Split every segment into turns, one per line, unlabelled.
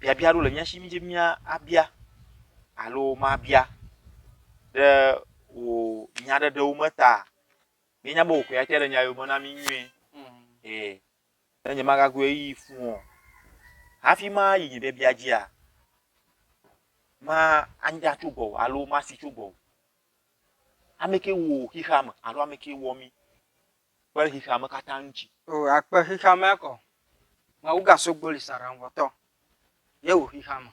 biabia aɖewo le mía si mídze be míabia alo mabia ɖe wò nyaɖeɖewo me ta. Míenya be wò koe ate ɖe nya yewo me na mí nyuie. Ɛɛ, ne nyemagago ɣeyiɣi fu o hafi mayi nye biabia dzia, manya tso gbɔwò alo masi tso gbɔwò. Ame kae wò xexeame alo ame kae wɔ mí? Akpe xexeame katã ŋutsi. O akpe
xexeamea kɔ. Mawu gaso gboli sa aɖaŋuwɔtɔ. Ye wò xexeame.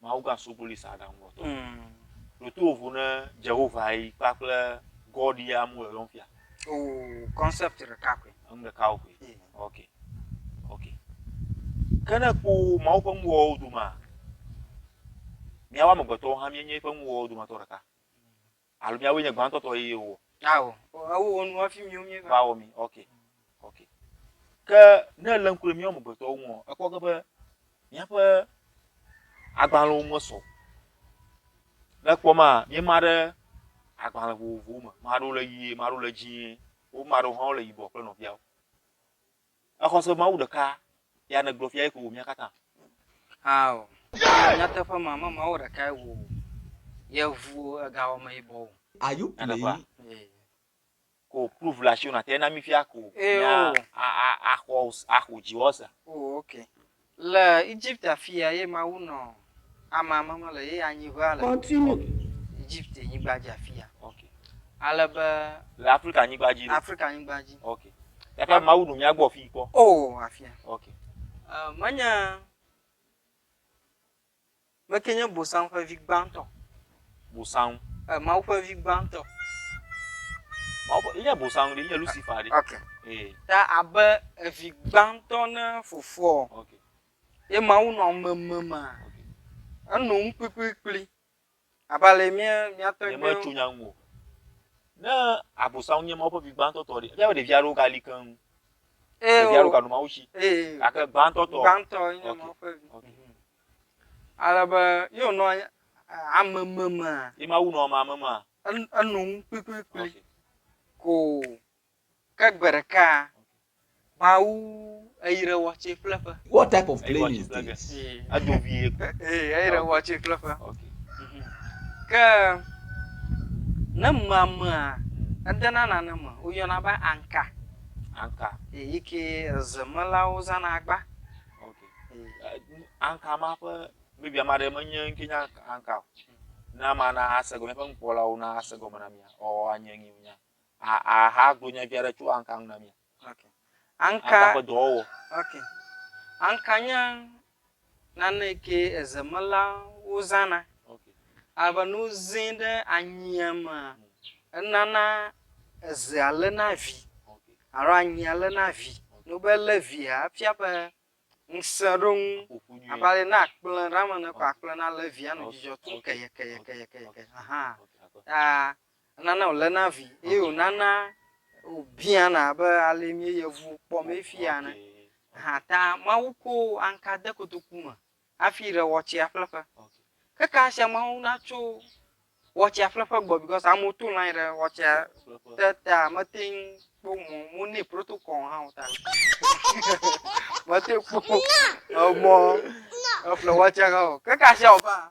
Mawu
gaso gboli sa aɖaŋuwɔtɔ. Mm. Ɖo to vovo ne Jehova yi kpakple God ya mu yɔyɔm fia. O
concept ɖeka koe. Enu ɖeka wo koe. Ye.
Ok. Ok. Ke ne ekpɔ Mawu ƒe nuwɔwɔwo domea, míawo amegbetɔwo hã míenye eƒe nuwɔwɔwo dometɔ ɖeka. Alo miawoe nye gbãtɔ tɔ eye wo. Ao, ewo
wɔ nu hafi miwo míeva. Va wɔ mi. Ok.
Ok. Ke ne èlé ŋku ɖe míawo amegbetɔwo ŋu ɔ, èkpɔ ge be míaƒe agbalẽwo mesɔ o. Ne èkpɔ ema, míema ɖe agbalẽ vovovowo me. Ame aɖewo le ʋie, ame aɖewo le dzĩe, womea ɖewo hã wole yibɔ kple nɔviawo. Exɔ se be Mawu ɖeka ya nègblɔ fia ye ko wò mía katã. Ao,
nyateƒe ma me Mawu ɖeka ye wò ye ŋu egawɔ me yibɔ o. Are you playing? Ee.
Ko proof le asiwò nàtɛ na mí fia ko mía
axɔ
axɔ dziwɔ sea. Oo ok.
Le Egypt afia ye Mawu nɔ amea me me le ye anyiŋea le
Egypt
nyigba dzi afia.
Ale be.
Le Afrika nyigba
dzi. Afrika nyigba dzi. Ok.
Gake
Mawu nɔ mía gbɔ fii kpɔ. O afia. Ok. Menye.
Me ke nye Bosam ƒe vi gbãtɔ. Bosam.
E, Mawu ƒe vi
gbãtɔ. Mawu
ƒe, enye Bosam ɖe, enye Lucifer ɖe. Ok. Ee.
Ta abe evi gbãtɔ ne fofoɔ. Ok.
Ye Mawu
nɔ meme ma. Ok. Enɔ nu kplikplikpli. Abe ale yi mía, mía tɔgbuiwo. Nyemetso nya ŋu o.
Ne Abosam nye Mawu ƒe vi gbãtɔ tɔ ɖe, míaƒe ɖevi aɖewo gali keŋ. Ee. Ɖevi aɖewo gano Mawu si. Ee. Gake gbãtɔ tɔ. Gbãtɔ ye nye Mawu ƒe
vi.
Okay.
Ale be ye wònɔ anyi ame memea. Ye Mawu nɔ ame
memea. Enu, enu ŋu
kplikplikpli. Okay. Ko. Ke gbe ɖeka Mawu eyre wɔ tse kple ƒe. What type of claim is
this? Edo vie.
Ee, eyre wɔ
tse kple ƒe.
Ke
ne mamea edena nane me woyɔna be anka. Anka. Ee, yi ke zemelawo zãna agba.
Anka ma ƒe maybe ame aɖe menye ŋke nya anka o. Ne amea na ase gɔme, míaƒe nukpɔlawo na ase gɔme na mía ɔɔ anye ŋee wònya. A, a, ha gblɔ nya vi aɖe tso anka ŋu na mi. Ok.
Anka. Anka ƒe dɔwɔwɔ.
Ok.
Anka nye nane yi ke ezemelawo zãna. Ok.
Alebe ne wozẽ
ɖe anyia mea, enana ezea léna vi. Ok. Alo anyia
léna
vi. Ne wobɛ lé via, efia be ŋusẽ ɖo ŋu. Aƒoƒu nyuie. Abe ale yi ne akplẽ ɖe eme ene ko, akplẽ nalé via anɔ dzidzɔ tum kɛyɛkɛyɛkɛyɛkɛyɛ. Ahaa. Ok, akɔ. Aa Enana wòléna vi eye wònana wòbiãna abe ale mí yevu kpɔ mee fia ene. Aha ta Mawu ko aŋka de kotoku me hafi ɖe wɔtsea ƒleƒe. Ke ka sia Mawu na tso wɔtsea ƒleƒe gbɔ because amewo to line ɖe wɔtsea te ta mete ŋu kpɔ mɔ mo ne protocol hã o ta mete ŋu kpɔ emɔ eƒle wɔtsea hã o. Ke ka sia wɔ va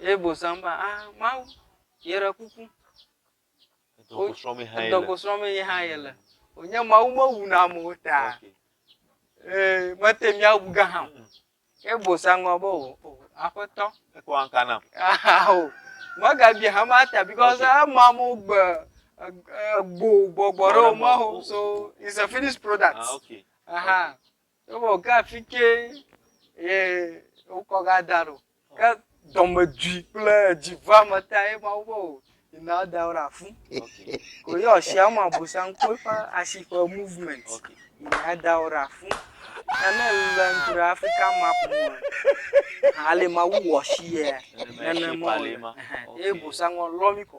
Ye bosam be, ah Mawu, yeɖe kuku, ŋdɔkɔ
srɔ̃m mee yehã
yele. Wònye Mawu mewuna amewo ta. Ee, mete ŋu awu gã hã o. Ye bosam gblɔ be, o, o, Aƒetɔ. Ekpɔ aŋka nam.
Aa o.
Megabia hã ma ta because ema amewo gbe ego gbɔgbɔ ɖe wo me o. So, it's a finished product. Ah, okay. Aha. Evɔ ke afi ke ye wokɔ ga da ɖo. Ke dɔmedui kple edziveame ta ye Mawu be o yina woada wo ɖe afu. Ko ye
ɔshi ama
Abosam kpɔ eƒe ashi ƒe movement yina ada
wo ɖe
afu. Ta ne èle ŋku ɖe Afrika map ŋu aa, ale Mawu wɔ ashi yea, nenema wòle. Eye Bosam lɔ mí kɔ.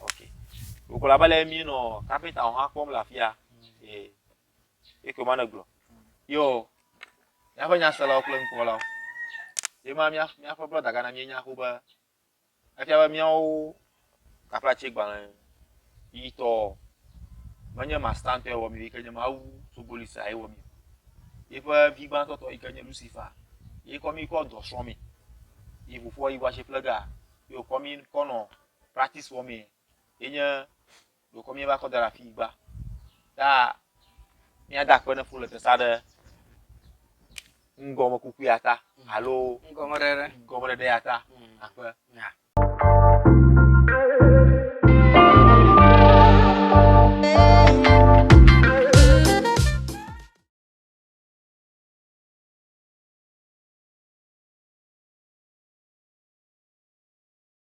Ok. Wògblɔ abe le mí nɔ kapita hã kpɔm le afia. Ee. Ye ko ma ne gblɔ. Yo, míaƒe nyaselawo kple nukpɔlawo. Ye ma mía, míaƒe brɔda gã na mí nya ƒo be, efia be míawo kaplatse gbalẽ yi tɔ menye mastantɔe wɔ mí, ke nye mawu sogolisa ye wɔ mí. Yeƒe vi gbãtɔ tɔ yi ke nye Lucifer, ye kɔ mí kɔ dɔ srɔ̃ mí. Yi ƒoƒua yi wɔ ashe plega, yo kɔ mí kɔ nɔ practice wɔmee ye nye ɖokɔ míeva kɔ da ɖe afi gba. Ta míada akpe ne fu le tesa ɖe ŋgɔme kuku ya ta alo ŋgɔme ɖeɖe ŋgɔme ɖeɖe ya ta akpe.